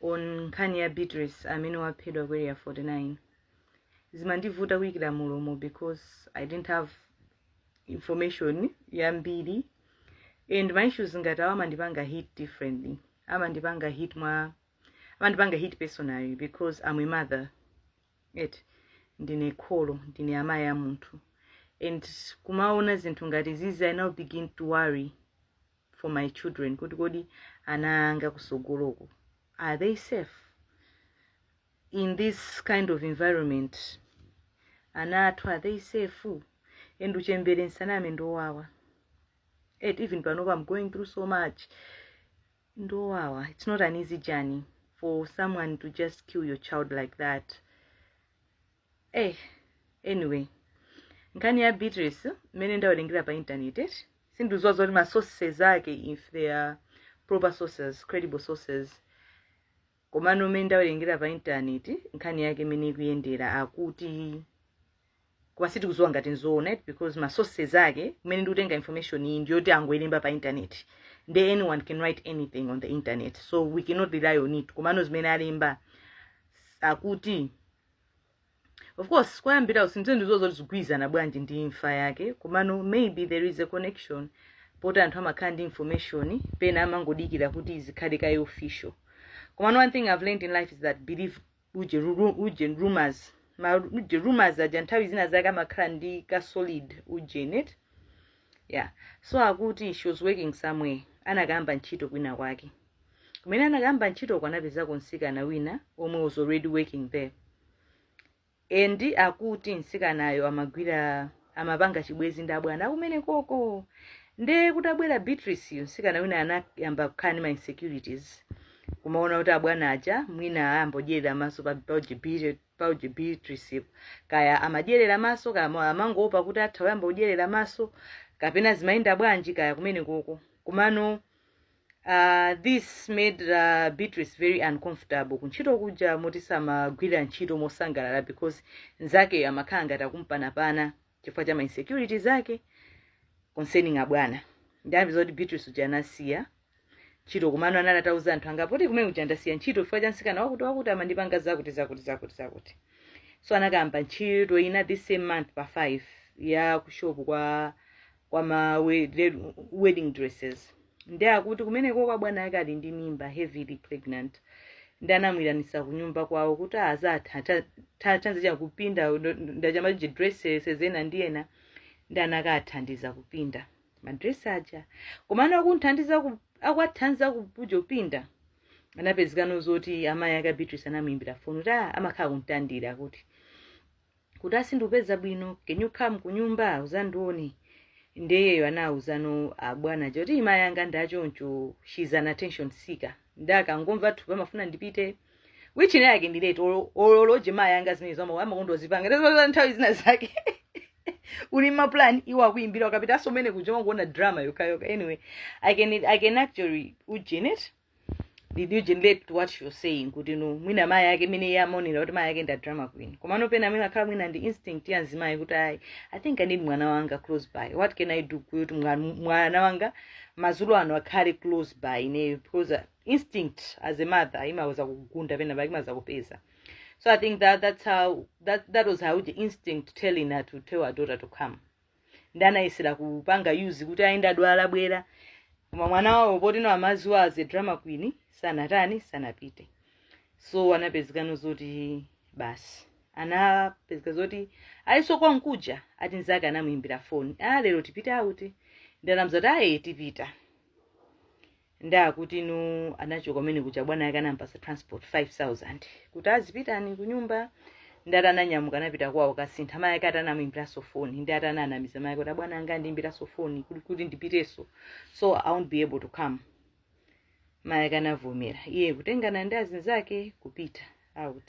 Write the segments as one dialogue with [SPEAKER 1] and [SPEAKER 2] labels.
[SPEAKER 1] on nkhani ya beatrice amene waphedwa ku area 49 zimandivuta kuyikira mlomo because i didn't have information yambiri and ma issues ngati awo amandipanga hit differently amandipanga hit mwa amandipanga hit personally because i'm a mother eti ndine kholo ndine amayi a munthu and kumaona zinthu ngati zizi i now begin to worry for my children kuti kodi ana anga kusogoloko are they safe in this kind of environment ana athu are they safe and uchembere nsaname ndowawa et even panopa i'm going through so much ndowawa it's not an easy journey for someone to just kill your child like that eh anyway nkhani ya beatrice mmene ndawerengera pa intaneti sindikuziwa zoti ma sources ake if they are proper sources credible sources komano mmene ndawerengera pa intaneti nkhani yake imene ikuyendera akuti koma sitikuziwa ngati nzoona eti because ma sources ake kumene ndikutenga information iyi ndiyoti angoilemba pa intaneti nde anyone can write anything on the internet so we cannot rely on it komano zimene alemba akuti of course kuyambirako sindiziwa zoti zikugwirizana bwanji ndi imfa yake komano maybe there is a connection poti anthu amakhala ndi information pena amangodikira kuti zikhale kaye official komano one thing i've learned in life is that believe ujeni, ru- ujeni rumors ma ujeni rumors aja nthawi zina zake amakhala ndi ka solid ujeni eti yeah so akuti she was working somewhere anakayamba ntchito kwina kwake kumene anakayamba ntchitoko anapezako mtsikana wina omwe was already working there and akuti mtsikanayo amagwira amapanga chibwezi ndi abwana akumene koko nde kutabwera beatriceyo mtsikana wina anayamba kukhala ndi ma insecurities kumaona kuti abwana aja mwina ayambodyerera maso pa paujeni Beat- paujeni beatrice kaya amadyerera maso kaya ama- amangoopa kuti atha kuyamba kudyerera maso kapena zimayenda bwanji kaya kumene koko komano Uh, this made uh, Beatrice very uncomfortable kuntchito kuja moti samagwira ntchito mosangalala because nzake amakhala ngati akumpanapana chifukwa cha mainsecurity zake concerning abwana nde akuti zoti Beatrice uja anasiya ntchito komano anali atauza anthu angapo kuti kumene kuja ndasiya ntchito chifukwa cha msikana wakuti wakuti amandipanga zakuti zakuti zakuti zakuti so anakayamba ntchito ina this same month pa 5 ya kushopu kwa kwa ma we- le- wedding dresses nde akuti kumenekoko abwana ake ali ndi mimba heavily pregnant nde anamuitanitsa kunyumba kwawo kuti azatha- tha- thandize kupinda ma ujeni dresses ena ndi ena nde anakathandiza kupinda madresi aja koma ana akunthandiza ku- akuwathandiza kupindapinda anapezekano zoti amayi ake a beatrice anamuimbira foni kuti "Ah, amakhala kumtandira akuti kuti sindikupeza bwino can you come kunyumba uzandione nde iyeyo anawuzano abwana choti mayi anga ndachoncho she's an attention seeker nde akangomva thupi amafuna ndipite which ine yake ndi late olo loje mayi anga zimenezo amakonda kuzipanga ndazipaa nthawi zina zake uli ndi maplan iwo akuyimbira ukapita asomene kuja umangoona drama yokayoka anyway i can, I can actually ujenet did you relate to what you're saying kuti no mwina mayi ake mene iye amaonera kuti mayi ake ndi adrama queen komano pena pamene akhala mwina ndi instinct ya mzimayi kuti ayi i think i need mwana wanga close by what can i do kuti mwa- mwana wanga mazulo ano akhale close by ineyo because uh, instinct as a mother imatha kugunda pena pake imatha kupeza so i think that that's how that, that was how the instinct telling her to tell her daughter to come nde anayesera kupanga use kuti ayi ndadwala bwera koma mwana wawo potino amawadziwa as a drama queen sanatani sanapite so anapezekano zoti basi anapezeka zoti ayi so konkuja ati nzake anamuyimbira foni a lero tipite out nde anamuza kuti ayi tipita nde akuti no anachoka kumeneko cha bwana yake anampasa transport 5000 kuti azipitani kunyumba nde atananyamuka anapita kwawo kukasintha mayi ake atanamuimbiranso foni nde atawanamiza mayi kuti abwana anga andiimbiranso foni kuti kuti ndipitenso so i won't be able to come mayi ake anavomera iye kutengana ndi azinzake kupita out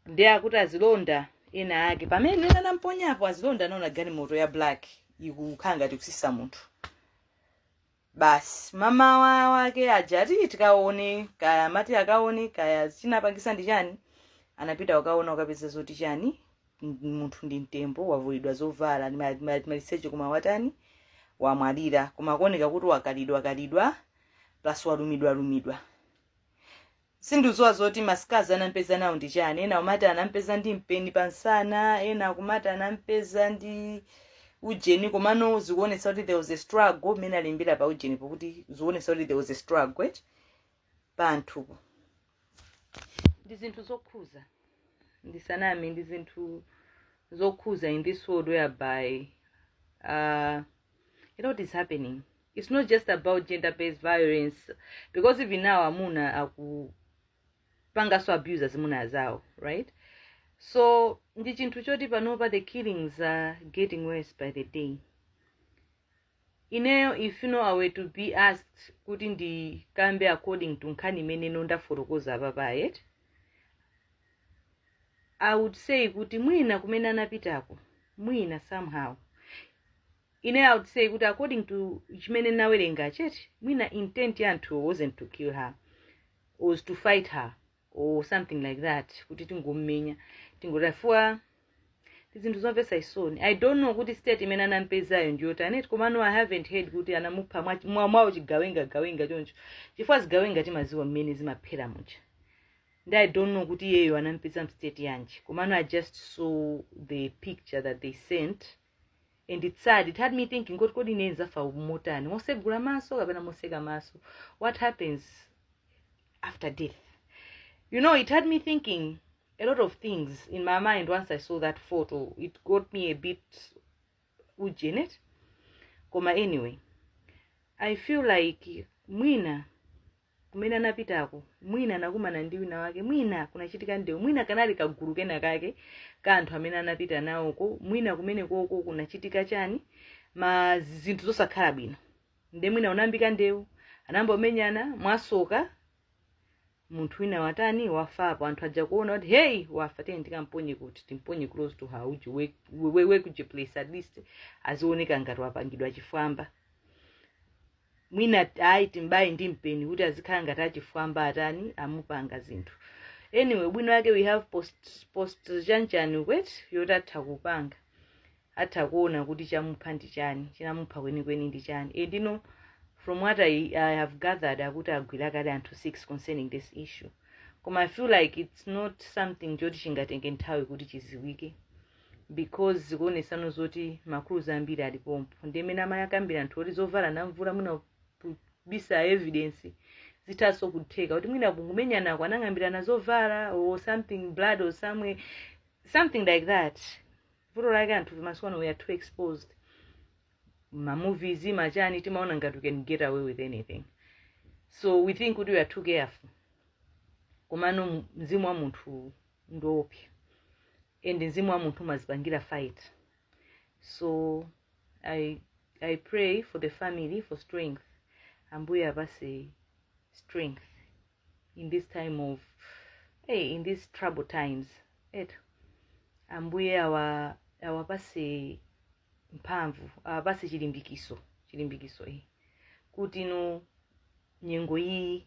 [SPEAKER 1] nde akuti azilonda ena ake pamene ena anamponyapo azilonda anaona galimoto ya black ikukhala ngati kusisa munthu basi mamawa wake aja ati tikaone kaya amati akaone kaya chinapangisa ndi chani anapita kukaona kukapeza zoti chani m- munthu ndi mtembo wavulidwa zovala ali ma- ma- maliseche koma watani wamwalira koma akuoneka kuti wakalidwa kalidwa plus walumidwa lumidwa Sindikuziwa zoti ma scars anampeza nawo ndi chani, ena akumati anampeza ndi mpeni pa nsana, ena akumati anampeza ndi ujeni komano zikuonetsa kuti there was a struggle mmene alembera pa ujenipo kuti zikuonetsa kuti there was a struggle eti pa munthupo ndi zinthu zokhuza ndisaname ndi zinthu zokhuza in this world whereby uh, a lot is happening it's not just about gender based violence because even now amuna akupanganso abuse azimuna azawo right so ndi chinthu choti panopa the killings are getting worse by the day ineyo if you know i were to be asked kuti ndikambe according to nkhani imene ino ndafotokoza apapa eti i would say kuti mwina kumene anapitako mwina somehow ine i would say kuti according to chimene nawerenga nchoti mwina intent ya anthuwo wasn't to kill her was to fight her or something like that kuti tingomumenya tingotafuwa zinthu zomvetsa chisoni i don't know kuti state imene anampezayo ndiyotani eti komano i haven't heard kuti anamupha mwa- mwa- mwawo chigawenga gawenga choncho chifukwa zigawenga timaziwa mmene zimaphera muja ndi i don't know kuti iyeyo anampeza mstate yanji komano i just saw the picture that they sent and it's sad it had me thinking kuti kodi ine nzafa motani mosegula maso kapena moseka maso what happens after death you know it had me thinking a lot of things in my mind once i saw that photo it got me a bit ujenet koma anyway i feel like mwina kumene anapitako mwina anakumana ndi wina wake mwina kunachitika ndewu mwina kanali kagulu kena kake ka anthu amene anapita nawoko mwina kumene koko kunachitika chani mwina zinthu zosakhala bwino nde mwina unayambika ndewu anayamba kumenyana mwasoka munthu wina watani wafapo anthu aja kuona kuti hey wafa tiye tikamponye kuti timponye close to her uji we- we- we- wekuji place at least azioneka ngati wapangidwa chifwamba mwina ayi timbayi ndi mpeni kuti azikhala ngati achifwamba atani amupanga zinthu anyway ubwino wake we have post, post chanchani eti yoti atha kupanga atha kuona kuti chamupha ndi chani chinamupha kwenikweni ndi chani and now from what I, i have gathered akuti agwira kale anthu 6 concerning this issue koma i feel like it's not something choti chingatenge nthawi kuti chiziwike because zikuonesano zoti ma clues ambiri ali pompo ndi mmene amakambira anthu oti zovala anamvula mwina kubisa evidence zithaso kutheka kuti mwina kumenyanako anang'ambirana zovala or something blood or somewhere something like that vuto lake anthu masiku ano we are too exposed mamovies machani timaona ngati we can get away with anything so we think kuti we are too careful komano mzimu wa munthu ndi oopsa and mzimu wa munthu umazipangira fight so i i pray for the family for strength ambuye awapase strength in this time of hey, in these trouble times eti ambuye awa awapase mphamvu awapase chilimbikiso chilimbikiso iyi kuti no nyengo iyi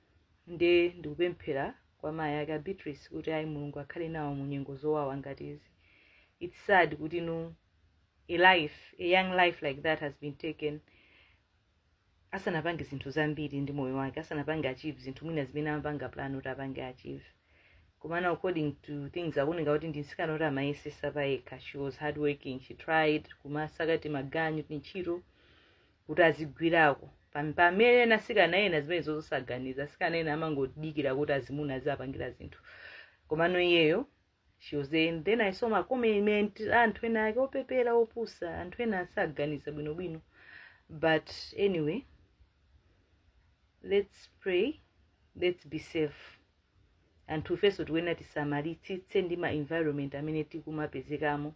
[SPEAKER 1] nde ndikupemphera kwa mayi ake a beatrice kuti ayi mulungu akhale nawo mu nyengo zowawa ngati izi its sad kuti no a life a young life like that has been taken asanapange zinthu zambiri ndi moyo wake asanapange achieve zinthu mwina zimene amapanga plan kuti apange achieve komano according to things akuoneka kuti ndi mtsikana woti amayesesa pa yekha she was hard working she tried kumasaka timaganyu tintchito kuti azigwirako pamene ena sikana ena zimenezo zosaganiza sikana ena amangodikira kuti azimuna aziwapangira zinthu komano iyeyo she was there. And then i saw macomment anthu enaake opepera opusa anthu ena asaganiza bwinobwino but anyway let's pray let's be safe anthu ifenso tikuyenera tisamalitsitse ndi ma environment amene tikumapezekamo